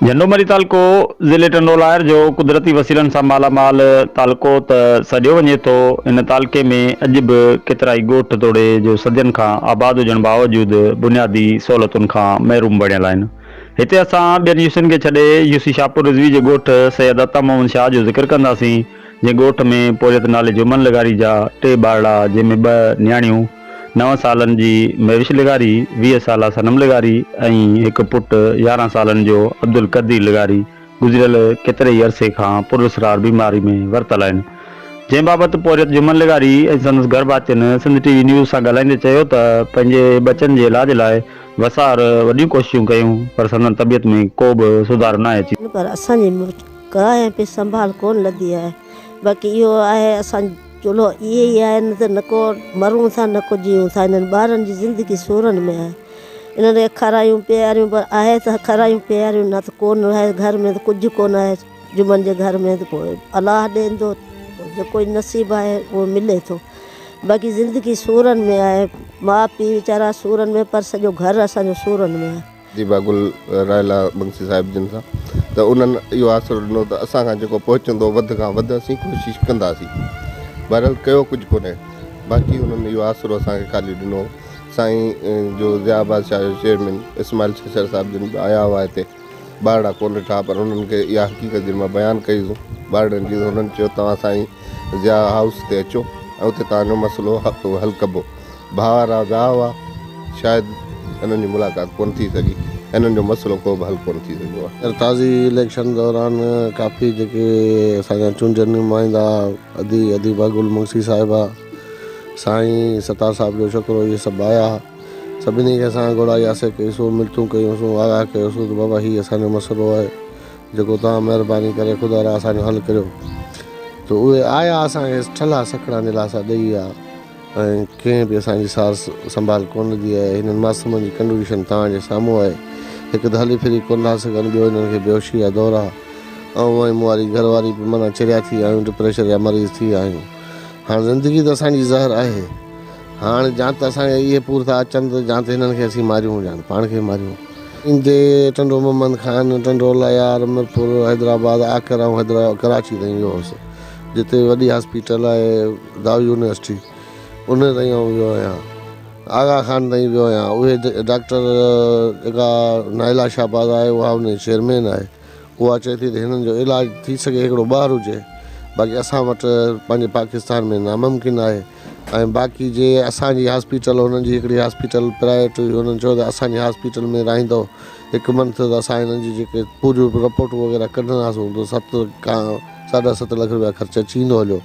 جهنڊو مري تعلقو ضلعي ٽنڊوالهيار جو قدرتي وسيلن سان مالا مال تعلقو ته سڏيو وڃي ٿو، هن تعلقي ۾ اڄ به ڪيترائي ڳوٺ توڙي جو صدين کان آباد هجڻ باوجود بنيادي سهولتن کان محروم بڻيل آهن. هتي اسان ٻين يوسين کي ڇڏي يوسي شاهپور رضوي جي ڳوٺ سيد عطا محمد شاهه جو ذڪر ڪنداسين، جنهن ڳوٺ ۾ پورهيت نالي جهومن لغاري جا ٽي ٻارڙا جنهن ۾ ٻه نياڻيون نو سالن جي مهوش لغاري، ويهه سالا صنم لغاري ۽ هڪ پٽ يارهن سالن جو عبدالقدير لغاري گذريل ڪيتري ئي عرصي کان پراسرار بيماري ۾ ورتل آهن، جنهن بابت پورهيت جمن لغاري ۽ سندس گهر ڀاتين سنڌ ٽي وي نيوز سان ڳالهائيندي چيو ته پنهنجي ٻچن جي علاج لاء وسار وڏيون ڪوششون ڪيون پر سندن طبيعت ۾ ڪو به سڌارو ناهي اچي پر اسان جي مڙس ڪرائي ۽ پي سنڀال ڪونه لڌي آهي باقي اهو آهي اسان چولو اهي ئي آهن نه ته نڪو مرون ٿا نڪو جيئون ٿا انهن ٻارن جي زندگي سورن ۾ آهي انهن کي اکارايون پياريون پر آهي ته اکارايون پياريون نه ته ڪونه آهي گهر ۾ ته ڪجهه ڪونه آهي جمن جي گهر ۾ ته پوء الله ڏيندو پوء جيڪو نصيب آهي اهو ملي ٿو باقي زندگي سورن ۾ آهي ماء پيء ويچارا سورن ۾ پر سڄو گهر اسان جو سورن ۾ آهي. زيبا گل، راحيلا بنگسي صاحب جن سان ته انهن اهو آسرو ڏنو ته اسان کان جيڪو پهچندو وڌ کان وڌ اسين ڪوشش ڪنداسين. بهرحال ڪيو ڪجهه ڪونهي باقي انهن اهو آسرو اسان کي خالي ڏنو. سائين جو ضياء آباد شاهه جو چيئرمين اسماعيل ڇڇر صاحب جن به آيا هئا هتي ٻارڙا ڪونه ڏٺا پر انهن کي اها حقيقت جن مان بيان ڪئي هئي ٻارڙن جي ته انهن چيو توهان سائين ضياء هائوس تي اچو ۽ اتي توهان جو مسئلو حل ڪبو. ڀاء رازا هئا، شايد هنن جي ملاقات ڪونه ٿي سگهي ۽ هنن جو مسئلو ڪو به حل ڪونه ٿي سگهيو آهي. ارتازي اليڪشن دوران ڪافي جيڪي اسان جا چونڊيل نمائندا ادي اديبه گل مگسي صاحبه، سائين ستار صاحب جو ڇوڪرو اهي سڀ آيا ها. سڀني کي اسان گهڙائي آسي ڪئيسون، منٿون ڪيونسون، آگاهه ڪيوسون ته بابا هي اسان جو مسئلو آهي جيڪو توهان مهرباني ڪري خدا را اسان جو حل ڪريو ته اهي آيا اسان کي ٺلها سکڻا دلاسا ڏئي ويا. ۽ ڪنهن به اسان جي سار سنڀال ڪونه ڏي آهي. هنن معصومن جي ڪنڊوشن توهان جي سامهون آهي. هڪ ته هلي ڦري ڪونه ٿا سگهن، ٻيو هنن کي بيهوشي جا دورا. آئون ۽ مون واري گهر واري به معنيٰ چريا ٿي آهيون، ڊپريشر جا مريض ٿي ويا آهيون. هاڻ زندگي ته اسان جي زهر آهي. هاڻ جان ته اسان جا اهي پور ٿا اچن ته جان ته هنن کي اسين ماريون جان پاڻ کي ماريون. ايندي ٽنڊو محمد خان، ٽنڊو ليار، ميرپور، حيدرآباد، آڪر ۽ ڪراچي تائين ويو هوس، جتي وڏي هاسپيٽل آهي. دار يونيورسٽي انهيء تائين آئون ويو آهيان. آغا خان تائين ويو آهيان. اهي ڊاڪٽر جيڪا نائلا شهباز آهي اها ان جي چيئرمين آهي. اها چئي ٿي ته هنن جو علاج ٿي سگهي هڪڙو ٻاهر هجي باقي اسان وٽ پنهنجي پاڪستان ۾ ناممڪن آهي ۽ باقي جي اسان جي هاسپيٽل هنن جي هڪڙي هاسپيٽل پرائيويٽ هئي هنن چيو ته اسان جي هاسپيٽل ۾ رهندو هڪ منٿ ته اسان هنن جي جيڪي پوريون رپورٽون وغيره ڪڍنداسون ته ست کان ساڍا ست لک رپيا خرچ اچي ويندو هليو.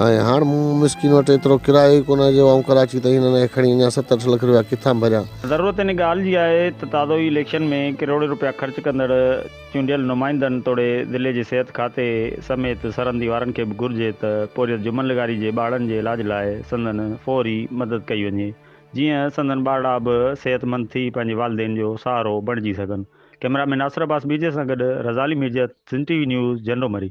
۽ هاڻ مون مسڪين وٽ ايترو ڪرايو ئي ڪونه جو آئون ڪراچي تائين هنن کي کڻي اڃا ست اٺ لک رپيا ڪٿان ڀريان. ضرورت ان ڳالهه جي آهي ته تازو ئي اليڪشن ۾ ڪروڙين رپيا خرچ ڪندڙ چونڊيل نمائندن توڙي ضلعي جي صحت کاتي سميت سرهندي وارن کي به گهرجي ته پورهيت جمن لغاري جي ٻارڙن جي علاج لاء سندن فوري مدد ڪئي وڃي جيئن سندن ٻارڙا به صحت مند ٿي پنهنجي والدين جو سهارو بڻجي سگهن ڪئميرا مين ناصر عباس ميرجي سان گڏ رزعلي ميرجي سنڌ ٽي وي نيوز جهنڊو مري.